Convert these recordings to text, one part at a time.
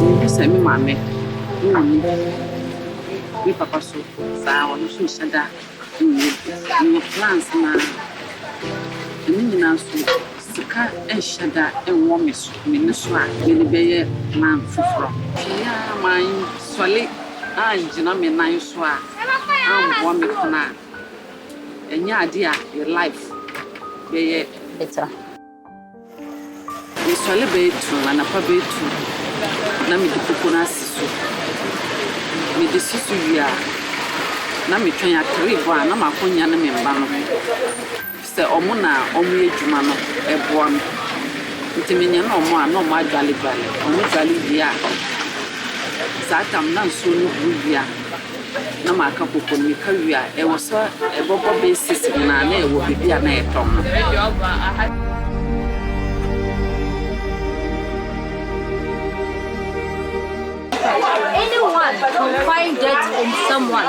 Mehu sɛ me maame wɔ me me papa so saa a, ɔno nso nhyɛ da nyɛ bi. Ɔwɔ plans no ara. Na ne nyinaa nso, sika nhyɛ da nwɔ me so me no so a mede bɛyɛ plan foforɔ. Pii a mansɔre angyina me nan so a ammoa me kunu a. Ɛnyɛ ade a yɛ life bɛyɛ better. Mesɔre bɛyɛ two anapa bɛyɛ two na me de koko no asi so. Me de si so wie a na me twɛn at three bɔ a na m'akonya ne me mma no. Sɛ ɔmo na ɔmo yɛ dwuma no ɛboa me nti me nyɛne ɔmo a na ɔmo adwale dwale ɔmo dwale wie a saa tam na nsuo no huru wie a na ma aka koko no me ka wie a ɛwɔ sɛ ɛbɔ bɔ bɛyɛ six nyinaa na ɛwɔ baabi a na yɛ tɔn no. Anyone can find dirt in someone.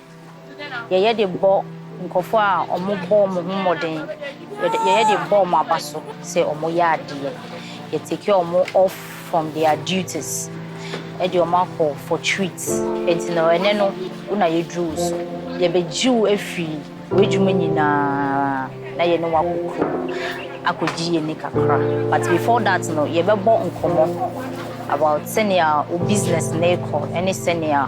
Yɛyɛ de bɔ nkorɔfoɔ a wɔbɔ wɔn ho mmɔden, yɛyɛ de bɔ wɔn aba so sɛ wɔyɛ adeɛ. Yɛ take wɔn off from their duties de wɔn akɔ for treats. Nti no ɛnɛ no wo na yɛduru wo so. Yɛbɛgye wo afiri w'adwuma nyinaa na yɛne wo akɔ kurom akɔgye yɛn ani kakra. But before that no yɛbɛbɔ nkɔmmɔ about sɛnea wo business no rekɔ ne sɛnea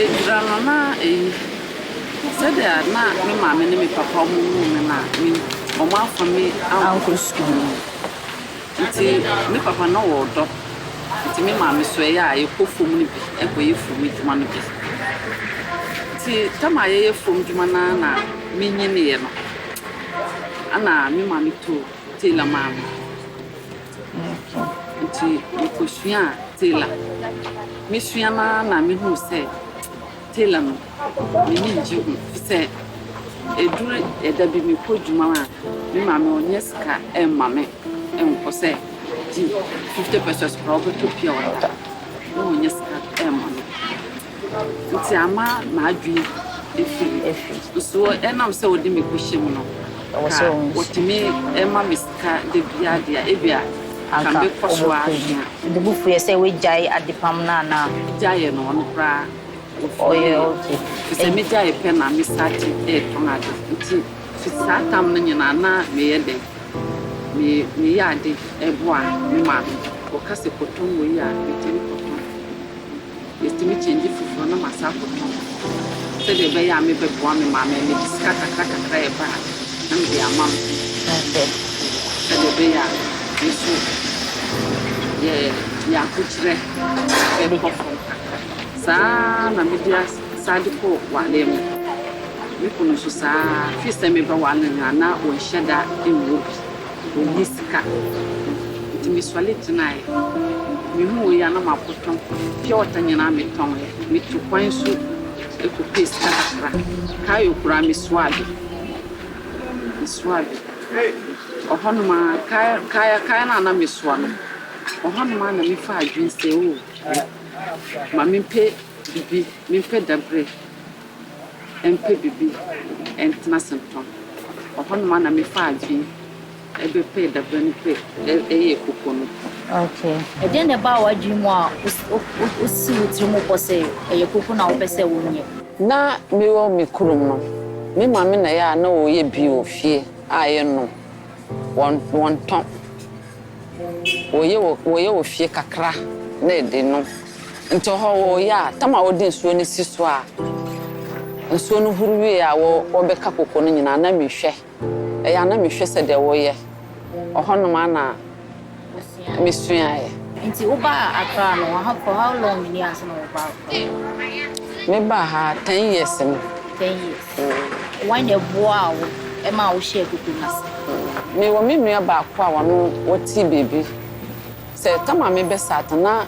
Egyina no na eyi sɛdeɛ na me maame ne me papa ɔmo woo me no a me ɔmo amfa me ankɔ sukuu nti me papa na ɔwɔ ɔdɔ nti me maame so ɛyɛ a yɛkɔ fam no bi ɛkɔ yɛ fam adwuma no bi nti tam a yɛyɛ fam adwuma no ara na me nyineeɛ no ɛna me maame too tailor maa me Ntsi mukosuaa tailor. Mesua no ara na muhun sɛ tailor no, m'enyi nngye ho. Sɛ edur da bi mokɔ edwuma a, me maame ɔnnyɛ sika mma me nnkɔ sɛ gye fifty pesewas koraa a ɔbɔtɔ pure water, no ɔnnyɛ sika mma me. Nti ama m'adwene afi. Soɔ ɛnam sɛ wode me kɔhyɛ mu no, ka wɔtumi ma me sika da biara deɛ a, ebia anka mɛkɔ so ara asua. Ɔde bo fuiɛ sɛ wagyae adepam no anaa? Gyaeɛ no, ɔno koraa ɔfiriiɛ. Ɛfiri sɛ megyaeɛ pɛ na mesate retɔn ade. Nti firi saa tam no nyinaa na meyɛ dɛn? Meyɛ ade boa me maame. Wɔka sɛ kɔtɔn wei a, metumi kɔtɔn. Metumi kyɛngye foforɔ na masan akɔtɔn sɛdeɛ ɛbɛyɛ a mebɛboa me maame a mede sika kakrakakra a ɛba a na mede ama no sɛdeɛ ɛbɛyɛ a me nso yɛ yɛ ahokyerɛ bɛkɔ fam kakra. Saa ara na mede as san de kɔ wareɛ mu. Me kunu nso saa ara, firi sɛ mebɛware no no a na ɔnhyɛ da nwɔ bi. Mennyi sika. Ntsi mesoɛr gyinae. Muhunii a na maboto pure water nyina metɔnee. Metuu kwan so kɔpɛɛ sika kakra. Kayo koraa mesoaa bi. Mesoaa bi. Ɔhɔnom ara, kayo kayo no a na mesoa no, ɔhɔnom ara na mefaa adwen sɛ oh, ma mempɛ biribi, mempɛ dabirɛ. mpɛ biribi ntena Sempɔn. Ɔhɔnom ara na mefaa adwene bɛpɛɛ dabere no pɛ yɛɛ koko no. Okay. Ɛdeɛn na ɛbaa w'adwene mu a wosi wo tiri mu bɔ sɛ ɛyɛ koko na wopɛ sɛ wonyɛ? Ná mewɔ me kurom no, me maame na ɛyɛ a na ɔyɛ bi wɔ fie a yɛnom. Wɔn wɔn tɔ. Wɔyɛ wɔ wɔyɛ wɔ fie kakra na ɛde no. Nti ɔhɔ wɔyɛ a, tam a wɔde nsuo no si so a, nsuo no huru wie a wɔ wɔbɛka koko no nyinaa na mehwɛ. Ɛyɛ a na mehwɛ sɛdeɛ wɔyɛ. Ɔhɔ nom a na. mesuaeɛ. Nti wo baa Accra no wɔ ha for how long ni ansa na wo ba Accra? Me baa ha ten years ni. Ten years. Wan na ɛboaa wo ɛmaa wo hyɛɛ koko no ase? Me wɔ me nua baako a wɔno wɔte baabi. Sɛ tam a me bɛ sat na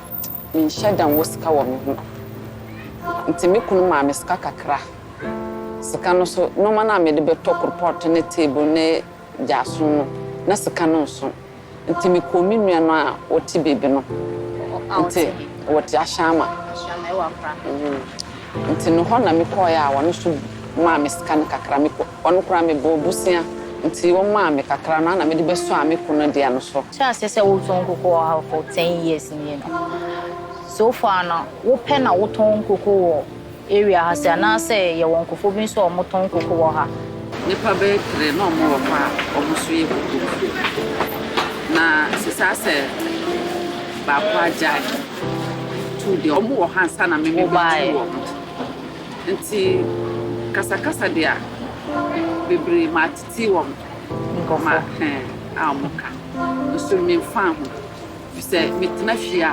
me nhyɛ da nwɔ sika wɔ me ho. Nti me kunu maa me sika kakra. Sika no so nnoɔma no a me de bɛ tɔ korpɔt ne table ne. gyaa som no, na sika no nso. Nti mekɔɔ me nua no a ɔte baabi no nti ɔte Ahyɛama nti no hɔ na mekɔɔeɛ a ɔno nso maa me sika no kakra mekɔ ɔno koraa mebɔɔ bosea nti ɔmaa me kakra no a na mede bɛsɔ a mekɔ no dea no so. Hyɛ aseɛ sɛ wotɔn nkoko wɔ ha for ten years nie no, so far no wopɛ na wotɔn nkoko wɔ. Area ha se anaasɛ yɛwɔ nkofo bi nso a ɔmo tɔn koko wɔ ha. Nipa bɛyɛ tre na ɔmo wɔ hɔ a ɔmo so yɛ koko no. Na se saa sɛ baako agyae two deɛ ɔmo wɔ ha ansa na me me behu ɔmo. Nti kasa kasa deɛ bebree maa titi wɔn ma hɛn a ɔmo ka nso me nfaa ho. Efisɛ me tena fie a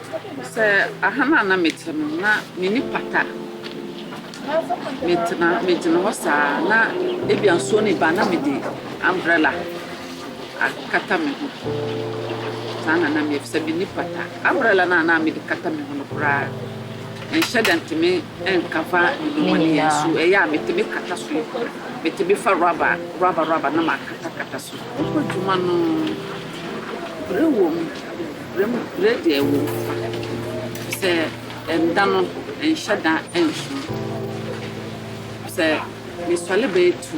Sɛ aha no a na mete no, na m'ani pata. Metena, megyina hɔ saa, na ebia nsuo no reba a, na mede umbrella akata me ho. Saa na na meyɛ, ɛfiri sɛ m'ani pata. Umbrella no a na mede kata me ho no koraa, ɛnhyɛ da ntumi nkava me nhomanim nso. Ɛyɛ a metumi kata so yi, metumi fa rɔba, rɔba, rɔba na makatakata so. Mekɔ adwuma no, brɛ wom. Bere deɛ wom, sɛ ɛda no ɛnhyɛ da nso. Sɛ mesɔre bɛyɛ tu,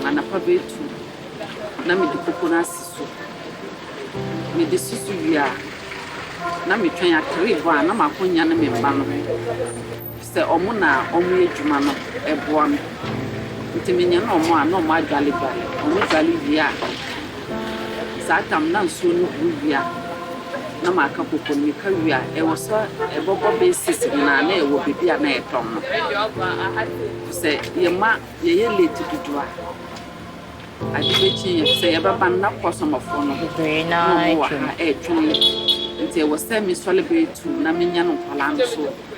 anapa bɛyɛ tu na mede koko no asi so. Mede si so wie a, na metwɛn, atere rebɔ a na m'akonnwa ne me mma no. Sɛ ɔmo na ɔmo yɛ dwuma no ɛboa me nti me nyane ɔmo a na ɔmo adwale dwale ɔmo dwale wie a saa tam na nsuo no gu wie a na ma ka koko no me ka wie a ɛwɔ sɛ ɛbɔbɔ bɛyɛ six nyinaa na yɛwɔ bɛbi a na yɛ tɔn no sɛ yɛ ma yɛ yɛ late dodo a ade bɛ kye yɛ sɛ yɛ bɛ ba no na kɔsɔmɔfoɔ no na ɔmo wɔ ha ɛtwɛn nti ɛwɔ sɛ me sɔle bɛyɛ two na me nyane nkɔla no so.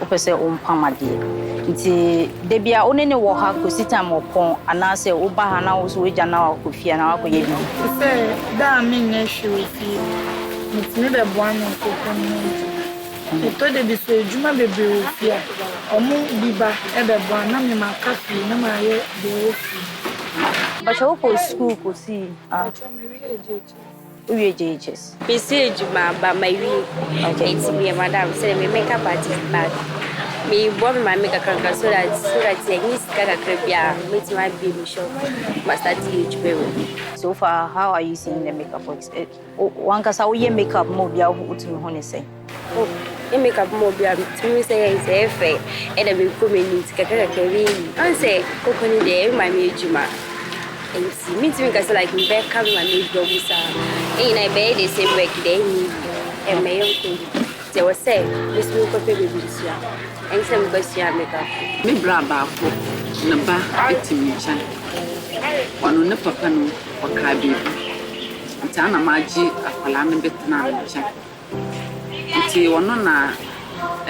Wopɛ sɛ wompam adeɛ nti da bia wo ne ne wɔ ha kɔsi time ɔpɔn anaasɛ woba ha na wo so wagya na wakɔ fie anaa wakɔyɛ biribi. Te sɛ da a menyɛ hwee wɔ fie metumi bɛboa me nkurɔfoɔ no ho nti ɛtɔ da bi sɛ adwuma bebree wɔ fie a wɔn bi ba bɛboa na me maka fie na mayɛ deɛ ɛwɔ fie no. Mpakyɛ wokɔ sukuu kɔsii. Mpakyɛ mewie JHS. Wowie gyegyees. Mesi edwuma aba mawie na ntsi meyɛ madam sɛ me makeup artist but moroboa me maame kakrakra so that so that yɛnye sika kakra bi a mɛtumi abue me shop ma start yɛ edwuma mu. So far how are you seeing the makeup works? Wankasa woyɛ makeup ma obi a wotumi hu ne sɛn? Oh me make up mo bia metumi hu sɛ yɛn sɛ ɛfɛ ɛna mekɔ m'ani nti kakra kakra bi yi an sɛ koko ne deɛ ɛma me adwuma nti mentumi nka sɛ like mbɛka me ma me adwuma mu saa ne nyinaa ɛbɛyɛ the same work deɛ ɛnyɛ yi ɛmmɛyɛ nkɔ yi nti ɛwɔ sɛ mesi me nkɔpɛ baabi nsua ɛne sɛ mekɔsua make up. Me bra baako ne ba te me nkyɛn ɔno ne papa no ɔkaa biribi nti ana magye akwadaa no bɛtenaa me nkyɛn. Ntsi ɔno na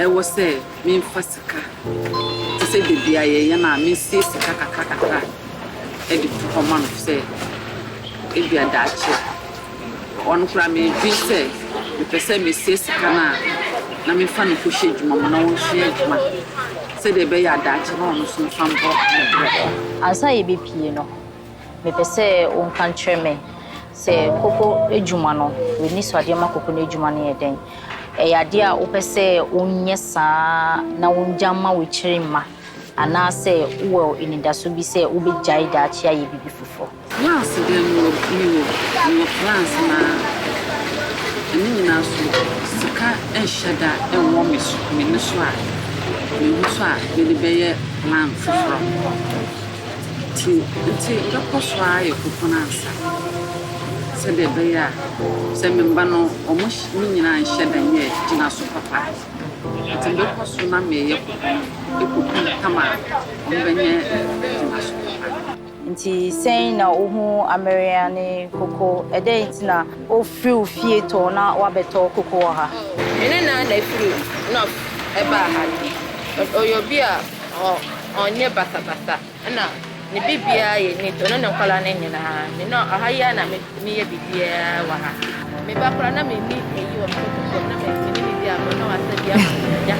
ɛwɔ sɛ memfa sika te sɛ da biara yɛyɛ no a, mesie sika kakrakakra de to hɔ ma no sɛ ebia daakye. Ɔno koraa medwen sɛ mepɛ sɛ mesie sika no a na memfa no nkɔhyɛ adwuma mu na ɔnsua adwuma sɛdeɛ ɛbɛyɛ a daakye na ɔno nso mfa mbɔ ne brɛ. Ansa yɛbɛpue no, Mepɛ sɛ wonka nkyerɛ me sɛ koko adwuma no, w'anisoadeɛ ma koko no adwuma no yɛ dɛn? Ɛyɛ adeɛ a wopɛ sɛ wonyɛ saa na wongya mma w'akyiri mma anaasɛ wowɔ anidaso bi sɛ wobɛgyae daakye ayɛ biribi foforɔ? Plans bɛn wɔ me wɔ? Mewɔ plans naa. Ɛno nyinaa so sika nhyɛ da nwɔ me so, m'ani so a, mehu so a mede bɛyɛ plan foforɔ. Nti, nti mɛkɔ so ara ayɛ kokono ansa, sɛdeɛ ɛbɛyɛ a, sɛ meba no, wɔn ne nyinaa nhyɛ da nyɛ gyinaso papa. Nti mɛkɔ so na mereyɛ kokono kɔpem tam a wɔbɛnyɛ gyinaso papa. Nti sɛn na wohu Ameria ne Koko? Ɛdɛn nti na wofiri wo fie tɔɔ na woabɛtɔ koko wɔ ha? Me nana na ɛfiri North baa ha. Ɔyɛ obi a ɔ. Ɔnyɛ basabasa na ne biribiara yɛ neat, ɔne ne nkwadaa no nyinaa. Me no ɔha yi ara na me meyɛ biribiara wɔ ha. Me ba koraa na menni ayi wɔ me koko fam na me ne ne di agorɔ na wasa bi ama me agya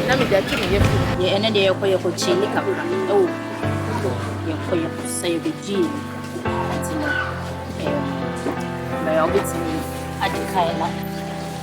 na mede atu me yafunu mu. Deɛ ɛnɛ deɛ yɛkɔ yɛkɔ kyee ne kakra ɛwɔ koko yɛkɔ yɛkɔ sa yɛbɛ gyee mu nti no ɛɛ mɛ ɔbɛtumi adi kae na.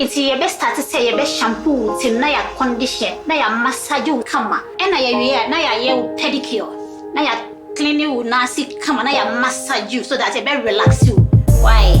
Ntsi yɛbɛ starte sɛ yɛbɛ shampoo wo tsir na yɛ akɔndihyɛ na yɛ amasagye wo kama. Nna yɛ wie a na yɛ ayɛ wo pɛdikiɔ na yɛ akline wo naase kama na yɛ amasagye wo so dat yɛbɛ relaxe wo wae.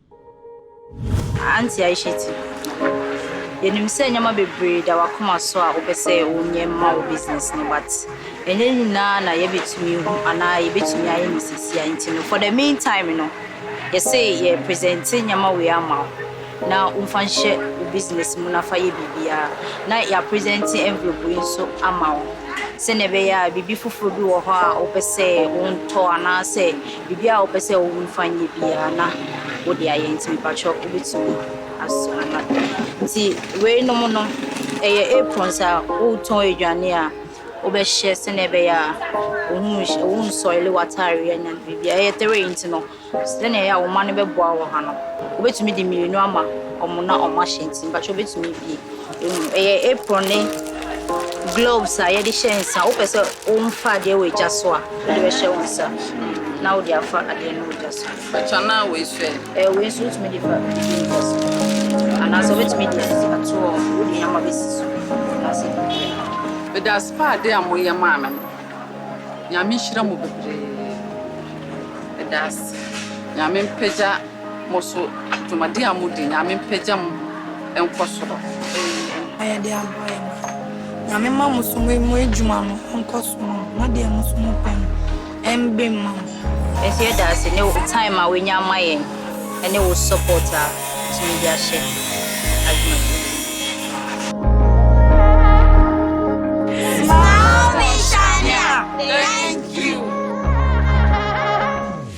Auntie Aishatu, Yɛnim sɛ nneɛma bebree da w'akoma so a wopɛ sɛ wonyɛ ma wo business no but ɛnyɛ ne nyinaa na yɛbɛtumi ahu anaa yɛbɛtumi ayɛ no seesei ara nti no for the mean time no yɛse yɛ presente nneɛma wei ama wo na womfa nhyɛ wo business mu na fa yɛ biribiara na yɛ apresente envelope wei nso ama wo sɛdeɛ ɛbɛyɛ a biribi foforɔ bi wɔ hɔ a wopɛ sɛ wontɔ anaasɛ Biribiara a wopɛ sɛ wo fa nyɛ biara na wode ayɛ nti mepakyɛw wobɛtumi asoma ma me. Nti wei nom no ɛyɛ aprons a wo tɔn aduane a wobɛhyɛ sɛnea ɛbɛyɛ a wo nsɔile w'ataareɛ anya no biribiara ɛyɛ three nti no sɛnea ɛyɛ a wo mma no bɛboa wɔ ha no wobɛtumi de mmienu ama wɔn na wɔn ahyɛ nti mepakyɛw wobɛtumi abue. Ɛyɛ apron ne gloves a yɛde hyɛ nsa. Wopɛ sɛ womfa adeɛ wɔ gya so a, wode bɛhyɛ wo nsa na wode afa adeɛ no wɔ gya so. Bɛtwa no a wei so ɛ? Ɛɛ wei so wotumi de fa biribi wɔ gya so. Anaasɛ wobɛtumi de ato hɔ, wode nneɛma bɛsi so anaasɛ biribiara. Medase paa ade a moyɛ maa me no Nyame nhyira mo bebree medase Nyame mpagya. Mo so dwumadie a modi Nyame mpagya mo nkɔ soro. Ɛyɛ mpayɛdeɛ aboa yɛ ma Nyame mma mo so mo adwuma no nkɔ so ma mo na deɛ mo so mo pɛ no mbre mma mo. Yɛnso yɛda ase ne wo time a wanya ama yɛn ɛne wo support a wotumi de ahyɛ adwumadie no mu. Smile me shine a thank you.